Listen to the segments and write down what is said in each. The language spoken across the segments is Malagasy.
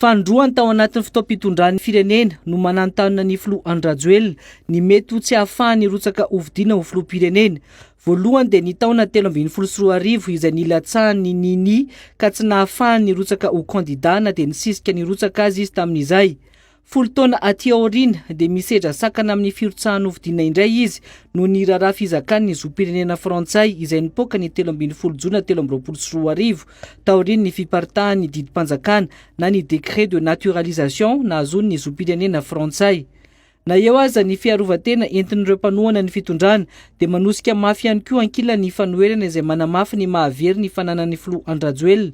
Fanindroany tao anatin'ny fotoam-pitondran'ny firenena no mananontanona ny filoha Andry Rajoelina ny mety ho tsy hahafahany hirotsaka hofidiana ho filoham-pirenena. Voalohany dia ny taona telo ambin'ny folo sy roa arivo izay nilatsahan'ny Nini ka tsy nahafahany nirotsaka ho kandida na dia nisisika nirotsaka aza izy tamin'izay. Folo taona aty aoriana dia misedra sakana amin'ny firotsahan'ny hofidiana indray izy noho ny raharaha fizakan'ny zom-pirenena frantsay izay nipoaka ny telo ambin'ny folo jona telo amby roapolo sy roa arivo taorian'ny fiparitahan'ny didim-panjakana na ny décret de naturalisation nahazoan'ny zom-pirenena frantsay. Na eo aza ny fiarovan-tena entin'ireo mpanohana ny fitondrana dia manosika mafy ihany koa ankilany ny fanoherana izay manamafy ny maha very ny fananan'ny filoha Andry Rajoelina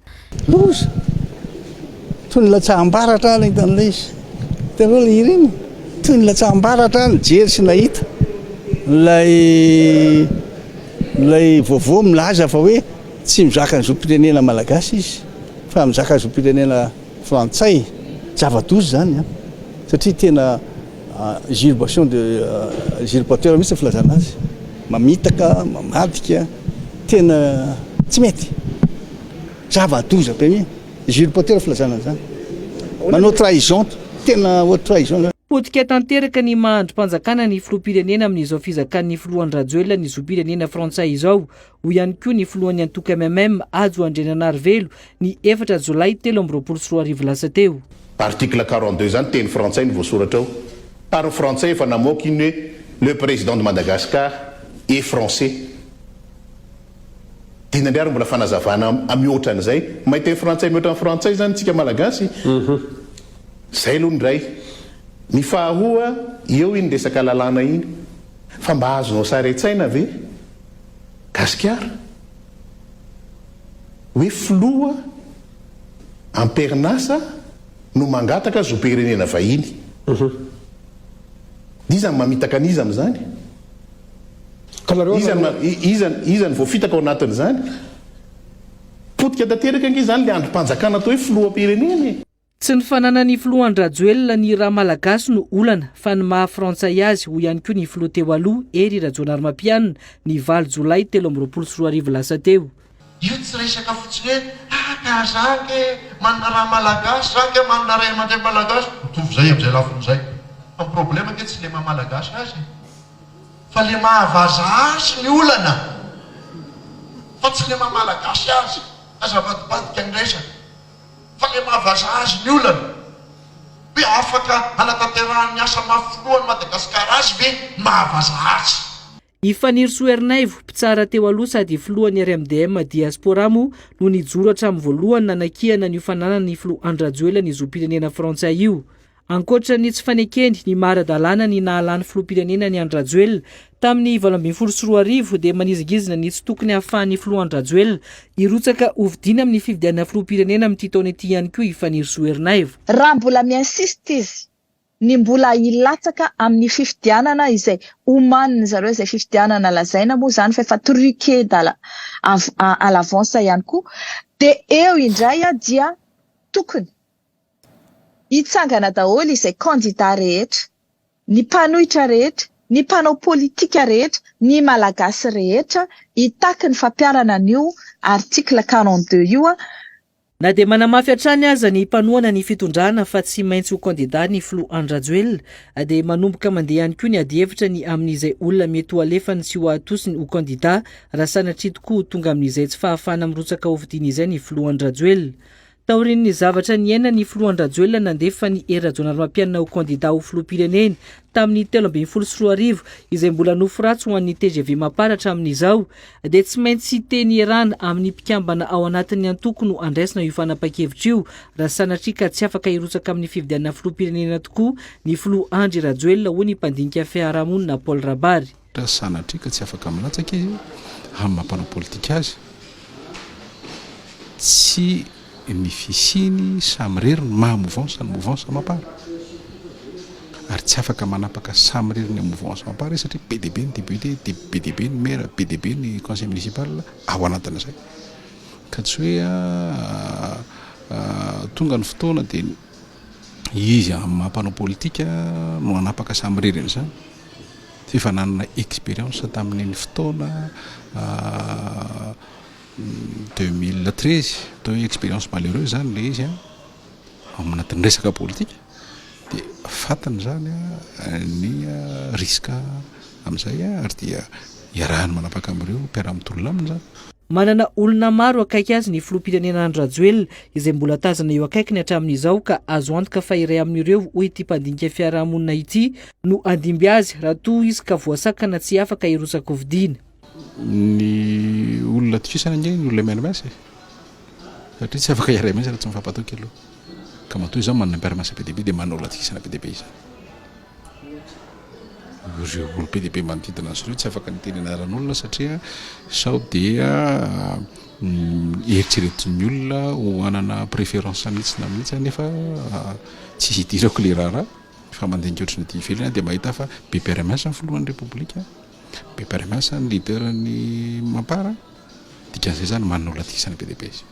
Loza! Toy ny latsaham-baratra ary nahita an'ilay izy. Hitanareo ilay hira iny? Toy ny latsaham-baratra ary nijery sy nahita ilay ilay vaovao milaza fa hoe tsy mizaka ny zom-pirenena malagasy izy fa mizaka ny zom-pirenena frantsay. Zava-doza izany an! Satria tena. Usurpation de usurpateur mihitsy ny filazana azy, mamitaka, mamadika, tena tsy mety, zava-doza be mihitsy, usurpateur filazana an'izany, manao trahison, tena haute trahison izany. Potika tanteraka ny maha andrim-panjakana ny filoham-pirenena amin'izao fizakan'ny filoha Andry Rajoelina ny zom-pirenena frantsay izao. Hoy ihany koa ny filohan'ny antoko MMM, Hajo Andriananarivelo, ny efatra jolay telo amby roapolo sy roa arivo lasa teo. Article quarante deux zany teny frantsay no voasoratra ao, par frantsay efa namoaka iny hoe le président de Madagascar est français, dia inona indray ary mbola fanazavana mihoatra an'izay, mahay teny frantsay mihoatra ny frantsay zany tsika malagasy, zay aloha ny iray, ny faharoa eo iny resaka lalàna iny, fa mba azonao sary an-tsaina ve? Gasikara, hoe filoha amperin'asa no mangataka zom-pirenena vahiny. Iza no mamitaka an'iza amin'izany? Iza no voafitaka ao anatin'izany? Potika tanteraka ange izany ilay andrim-panjakana atao hoe filoham-pirenena e! Tsy ny fananan'ny filoha Andry-Rajoelina ny ra malagasy no olana fa ny maha frantsay azy, hoy ihany koa ny filoha teo aloha, Hery Rajaonarimampianina, ny valo jolay telo amby roapolo sy roa arivo lasa teo. Io tsy resaka fotsiny hoe, ah ka za ange manana ra malagasy, za ange manana ray aman-dreny malagasy, mitovy izay amin'izay lafiny izay. Fa ny problema ange tsy le maha malagasy azy e, fa le maha vaza azy ny olana, fa tsy le maha malagasy azy, azavadibadika ny resaka. fa ilay mahavazaha azy ny olana hoe afaka hanatanterahan'ny asa mafy filohan'i Madagasikara azy ve ny mahavazaha azy. I Fanirisoa Ernaivo, mpitsara teo aloha sady filohan'ny RMDM Diaspora moa no nijoro hatramin'ny voalohany nanakiana ny ho fananan'ny filoha Andry Rajoelina ny zom-pirenena frantsay io. Ankoatra ny tsy fanekeny ny maha ara-dalàna ny nahalany filoham-pirenena an'i Andry Rajoelina tamin'ny valo ambin'ny folo sy roa arivo dia manizingizina ny tsy tokony hahafahan'ny filoha Andry Rajoelina hirotsaka hofidiana amin'ny fifidianana filoham-pirenena amin'ity taona ity ihany koa i Fanirisoa Ernaivo. Raha mbola mi-insiste izy ny mbola hilatsaka amin'ny fifidianana izay omanin'ny zareo izay fifidianana lazaina moa izany fa efa truqué dala à l'avance ihany koa dia eo indray dia tokony Hitsangana daholo izay kandida rehetra, ny mpanohitra rehetra, ny mpanao politika rehetra, ny Malagasy rehetra hitaky ny fampiharana an'io article quarante deux io. Na dia manamafy hatrany aza ny mpanohana ny fitondrana fa tsy maintsy ho kandida ny filoha Andry Rajoelina dia manomboka mandeha ihany koa ny adihevitra ny amin'izay olona mety ho alefany sy ho atosiny ho kandida raha sanatria tokoa ho tonga amin'izay tsy fahafahana mirotsaka hofidiana izay ny filoha Andry Rajoelina Taorian'ny zavatra niainan'ny filoha Andry-Rajoelina nandefa ny Hery Rajaonarimampianina ho kandidà ho filoham-pirenena tamin'ny telo ambin'ny folo sy roa arivo izay mbola nofy ratsy ho an'ny tgv Mapar hatramin'izao dia tsy maintsy teny ierana amin'ny mpikambana ao anatin'ny antoko no andraisina io fanapahan-kevitra io raha sanatria ka tsy afaka hirotsaka amin'ny fifidianana filoham-pirenena tokoa ny filoha Andry Rajoelina hoy ny mpandinika fiarahamonina Paul Rabary. Raha sanatria ka tsy afaka milatsaka izy amin'ny maha mpanao politika azy, tsy ny fisiany samirery ny maha mouvansa ny mouvansa Mapar, ary tsy afaka manapaka samirery ny mouvansa Mapar izy satria be dia be ny député, be dia be ny maire, be dia be ny conseil municipal ao anatin'izay. Ka tsy hoe tonga ny fotoana dia. Iza amin'ny maha mpanao politika no hanapaka samirery an'izany? F'efa nanana expérience tamin'iny fotoana deux mille treize, atao hoe expérience malheureuse izany ilay izy an, ao anatin'ny resaka politika dia fantany izany an ny risque amin'izay an, ary dia iarahany manapaka amin'ireo mpiara-mitolona aminy izany. Manana olona maro akaiky azy ny filoham-pirenena Andry Rajoelina, izay mbola tazana eo akaikiny hatramin'izao ka azo antoka fa iray amin'ireo, hoy ity mpandinika fiarahamonina ity, no handimby azy raha toa izy ka voasakana tsy afaka hirotsakofidina. Ny olona atokisana ange ny olona MNMS e! satria tsy afaka hiaraha-miasa raha tsy mifampatoky aloha, ka matoa izany manana mpiara-miasa be dia be dia manana olona atokisana be dia be izany. Ireo olom-pehibe manodidina azy ireo tsy afaka niteny anaran'olona satria sao dia eritreretin'ny olona ho hanana préférence mihitsy na mihitsy aho nefa tsy hidirako ilay raharaha fa mandinika ohatry ny aty ivelany aho dia mahita fa be mpiara miasa ny filohan'ny repoblika, be mpiara miasa ny leader-n'ny mampara, dikan'izay izany manana olona dikisana be dia be izay.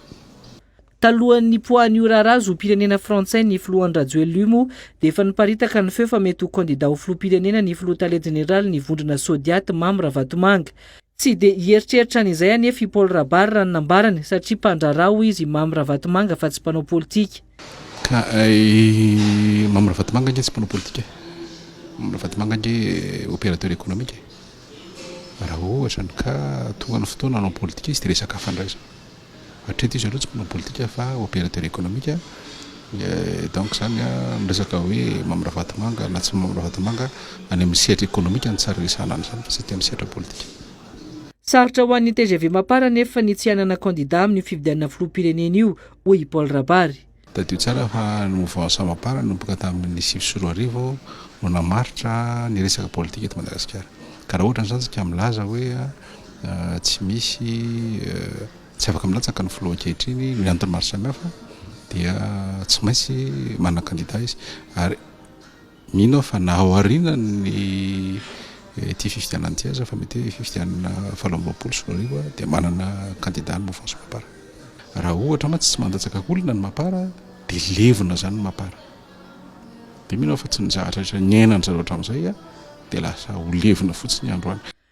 Talohan'ny nipoahan'io raharaha zom-pirenena frantsay ny filoha Andry Rajoelimo dia efa niparitaka ny feo fa mety ho kandida ho filoham-pirenena ny filoha tale jeneralin'ny vondrona Sodiat Mamy Ravatomanga. Tsy dia hieritreritra an'izay anefa i Paul Rabary raha ny nambarany satria mpandraharaha hoy izy i Mamy Ravatomanga fa tsy mpanao politika. Ka i Mamy Ravatomanga ange tsy mpanao politika e! Mamy Ravatomanga ange opérateur économique e! Raha ohatra ny cas tonga ny fotoana hanao politika izy dia resaka hafa indray izany. Hatreto izy ireo tsy mpanao politika fa opérateur économique donc izany ny resaka hoe Mamy Ravatomanga na tsy Mamy Ravatomanga any amin'ny sehatra économique no tsara resahana an'izany fa tsy aty amin'ny sehatra politika. Sarotra ho an'ny tgv Mapar anefa ny tsy hanana kandida amin'io fifidianana filoham-pirenena io, hoy i Paul Rabary. Tadidio tsara fa ny Mouvement Sama Para nanomboka tamin'ny sivy sy roa arivo no namaritra ny resaka politika eto Madagasikara. Ka raha ohatra ny zandrika milaza hoe tsy misy tsy afaka milatsaka ny filoha ankehitriny noho ny antony maro samihafa dia tsy maintsy manana kandida izy ary Mino aho fa na ao aorianan'ny ity fifidianana ity aza, fa mety hoe fifidianana valo amby roapolo sy roa arivo, dia manana kandida ny mouvance Mapar. Raha ohatra mantsy tsy mandatsaka olona ny Mapar, dia levona izany ny Mapar. Dia mino aho fa tsy ny zavatra rehetra niainan-dry zareo hatramin'izay dia lasa ho levona fotsiny androany.